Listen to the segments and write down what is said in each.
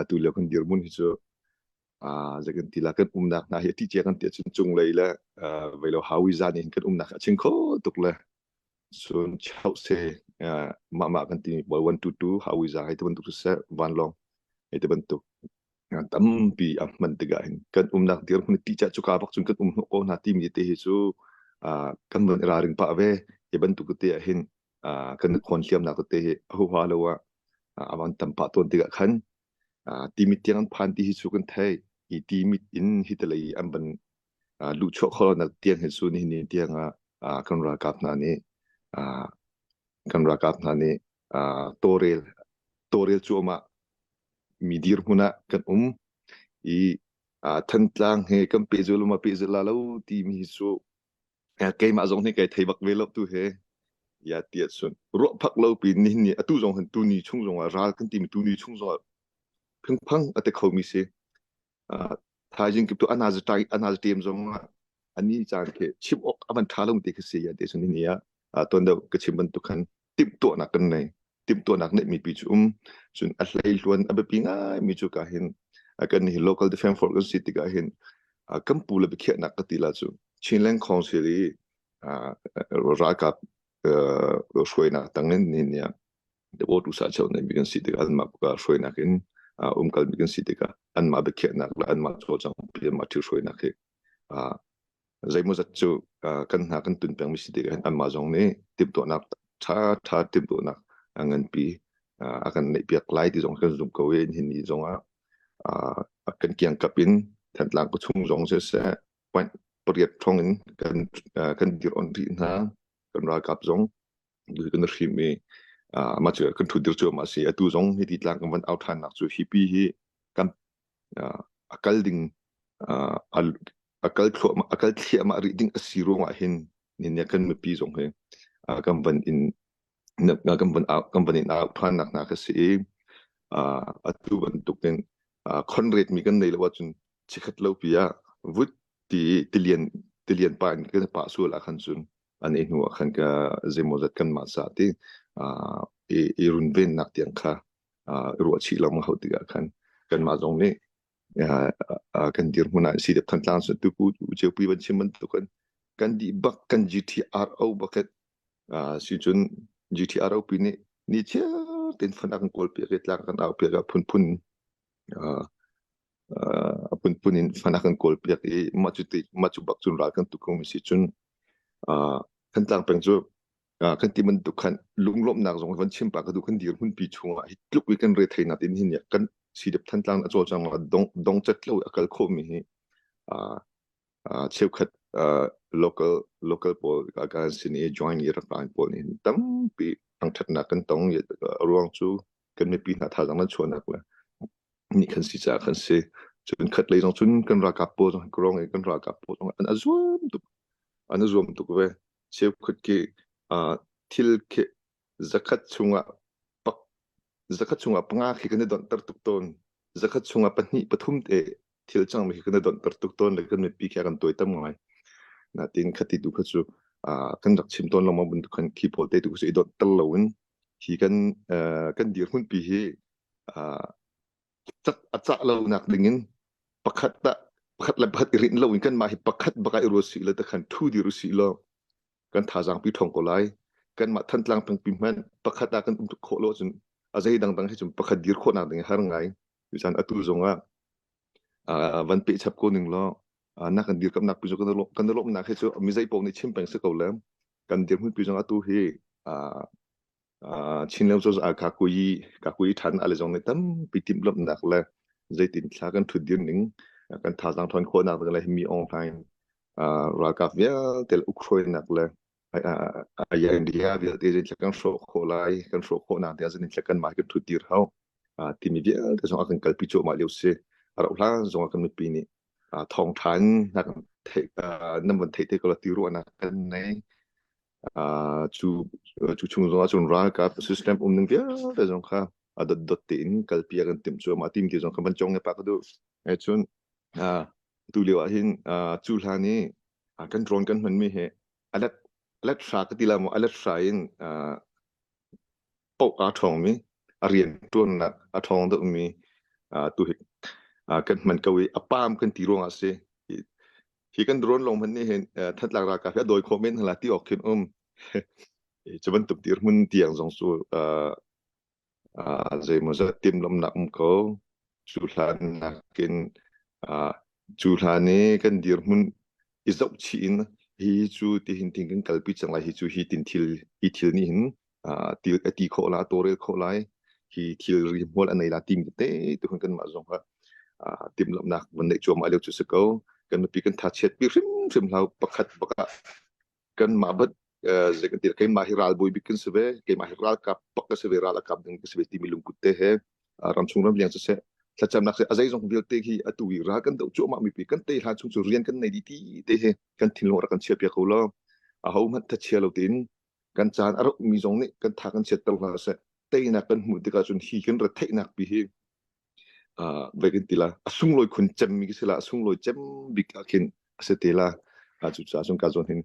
atu lio kan dirmun hi cu uh, kan ti la kan umnak hna hi ti che kan ti cun chung lei le uh, velo hawi zan in kan umnak a ching kho tuk le sun chau se uh, ma ma kan ti bol one two two hawi zan ai te bantuk se van long ai te bantuk tampi am man tiga in kan umnak dir hun ti cha chuka bak chun kan um ko na ti mi te hi chu uh, kan non ra ring pa ve e bantuk te hin uh, kan khon hliam na te hi hoa lo a awan tam pa ton tiga khan timi tiang an phan ti hi chu kan thai i timit in hi talai an ban lu cho kho na tiang hi su ni ni tiang a kan ra kap na ni kan ra kap na ni torel torel chu ma mi dir huna kan um i thantlang he kan pe zul ma pe zul la lo ti mi hi su keimah zong hi kai thei bak ve lo tu he ya ti sun ruah phak lo pi ni ni atu zong han tu ni chung zong ral kan ti mi tu ni chung zong phang phang ate kho mi se thaijing kip to anaza tai anaza tem zong ani chang ke chip ok aman tha long te ke se ya te sun ni ya ton da ke chim ban tu khan timhtuahnak kan nei. Timhtuahnak neih mi pi cu um. Cun a hleihluan a biapi ngai mi cu ka hin kan hi local defense force kan si tikah hin kan pu le biakhiahnak ka ti la cu Chinland Council i ralkap hruainak tangin ni nia the water usa chau nei mi kan si tikah an ma ka hruainak in umkal mi kan si tikah an ma biakhiahnak la an ma cho chang pi ma thil hruainak hi zeimawzat cu kan hna kan tun pengmi si tik ah anmah zong nih timhtuahnak ṭhaṭha timhtuahnak a nganpi a kan neihpiak lai ti zong kan zumh ko i hin ni zong ah kan kiangkap in Thantlang khuachung zong siseh point pariat thong in kan kan dir on rih hna kan ralkap zong kan hrim i uh, ma cu kan thut dir chu ma si atu zong hi ti tlak kan van au than nak chu hi pi hi kan uh, akal ding uh, al akal thlo akal thlia ma ri ding asi ruang ah hin ni ne kan mi pi zong hi uh, kan van in kan van kan van in au than nak na ka si i uh, atu ban tuk in uh, conrad mi kan nei lo chun chikhat lo pia vut ti tilian tilian pa in kan pa su la khan chun an i hnu ah khan ka zeimawzat kanmah ca ti uh, i, i runvennak tiang kha uh, ruahchih lo ma hau tikah khan kanmah zong nih uh, uh, kan dir hmun ah si dep than tlang sun tu pu tu cheu pi ban chim ban tu kan kan di bak kan GTRO bucket uh, si chun GTRO pi ni ni chia ten phana kan kol pe ke tlak kan au pe ga phun phun uh, a phunphun in fan a kan kawlpiak i mah cu mah cu bak cun ral kan tuk komi si cun Thantlang peng cu kan ti bantuk khan lunglawmhnak zong van chim pa ka duh kan dir hmunpi chungah hi tluk i kan retheinak in hin kan sidep Thantlang a cawlcang dong dongcat lo a kal khomi hi uh, cheukhat uh, local local pawl kan sin i join i rangkang pawl nih tampi thangthatnak kan tong i ruang cu kan mipi hna thazang nan chuahnak le ni kan si ca kan si cun khat lei zong cun kan ralkap pawl zong krong i kan ralkap pawl zong an azuam tuk an azuam tuk ve cheukhat ki uh, thil Zakhat chungah zakhat chungah panga khi kan i donhter tuk tawn. Zakhat chungah pahnih pathum te thil cangmi khi kan i donhter tuk tawn le kan mipi khi a kan tawi tam ngai. Natin khati tu kha cu kan rak chim tawn lomang bantuk khan khi pawl te tu cu i donhter loin hi kan kan dirhmunpi hi a cah lonak dingin pakhat le pakhat i rinh loin kanmah hi pakhat bak ah i ruat sih law takhan thu dir usih law kan thazaang pi thong ko lai kanmah thantlang pengpi hmanh pakhat ah kan um tuk khawh lo cun a zei dangdang hi cun pakhat dir khawhnak ding har ngai cucan atu zong ah van pe chap ko ning law nak kan dir kamnak pi zong kan lawmnak hi cu mi zei pong nih chim peng si ko le kan dir hun pi zong atu hi uh, chinlo cho a ka kui ka kui than ale jong ne tampi tim lom nak le zeitin thla kan thut din ning kan tha jang thon kho na le mi online uh, rakaf via tel ukhroi nak le aya india via te jin kan sho kho lai kan sho kho na te jin kan mai kan thut dir hau timi via te jong kan kalpi cho ma leu se ara hla jong kan mi pi ni thong than na kan the nam van the te ko la tiru na kan nei Ah, cu cu chung zongah cun ralkap system umning vialte zong kha a dotdot tein kalpi a kan timh cu mah tim ti zong kha van cong ne pa ka duh he cun ah tu lio ah hin ah cu hlan i ah, kan drone kan hmanmi hi alet alet hra ka ti la mu alet hra in ah, paoh aa ṭhawngmi, a rianṭuannak a ṭhawng deuhmi ah tu hi kan hman ko i a paam kan ti ruangah a si. Hi kan drone lawng hmanh nih hin thatlak ralkap hi a dawi khawh men hna la ti awk khin um. Cu bantuk dirhmun tiang zong cu zeimaw zat timlomnak um ko. Cu hlan nakin cu hlan i kan dirhmun i zohchih in hi cu tihin tin kan kalpi cang lai hi cu hi tin thil hi thil nih hin uh, til a ti khawh lai torel khawh lai hi thilri hmual anei la tim te tu hun kan mah zong ha uh, tim lomnak van nei chuam aleu chu se ko kan nupi kan tha chet pi hrim hrim hlau pakhat baka kan ma bat ze kan tir kai ma hi ral boi bikin se ve kai ma hi ral kap pak ka se ve ral akap ding se ve ti mi lungkut te he ram chung ram liang se thlacam nak se azai zong vialte hi atu i ra kan do chu ma mi pi kan te ha chung chu rian kan nei di ti te he kan thin lo ra kan chia pia ko lo a ho mat tha chia lo tin kan caan a rukmi zong nih kan tha kan chiatter hna seh teinak kan hmuh tikah cun hi hin retheihnak pi hi uh, vai kan tila a sunglawi khun cemmi ka sila a sunglawi cem bik ah khin a se tela a cu ca cun ka zon hin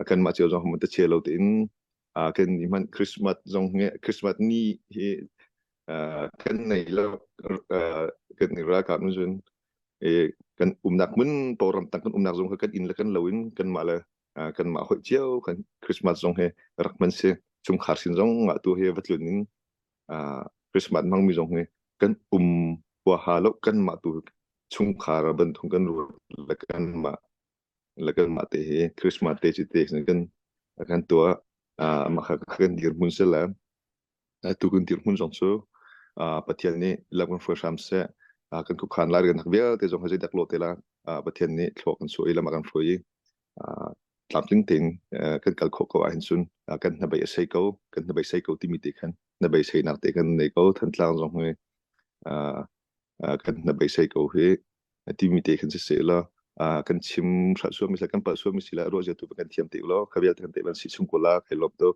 kan ma cheu zong hamon ta che lo te in a kan ni man christmas zong nge christmas ni hi kan nei la kan ni ra ka nu jun e kan umnak mun poram tang kan umnak zong kan in la kan loin kan ma la kanmah holh cio kan Christmas zong hi rak man si chungkhar sin zong ah tu hi va tlun in Christmas mang mi zong hi kan um huaha lo kanmah tu chungkhar bantuk kan ruat la kanmah la kanmah te hi Christmas te ci te kan kan tua makha kan dir mun sela Atu kan dirhmun zong cu Pathian nih lam kan hruai hram seh. Kan khuakhan lai kan hak vialte zong kha zeidak law te la Pathian nih thluak kan suah i lam a kan hruai i tlamtling tein kan kal khawh ko ahhin cun kan hnabei a sei ko, kan hnabei sei ko timi te khan hnabei seinak te kan nei ko. Thantlang zong hi kan hnabei sei ko hi timi te khan si seh law kan chim hrat suami le kan palh suami si le ruah zia tu kan thiam te ulaw kha vialte kan tei ban si chung ko la kai lawm tuk.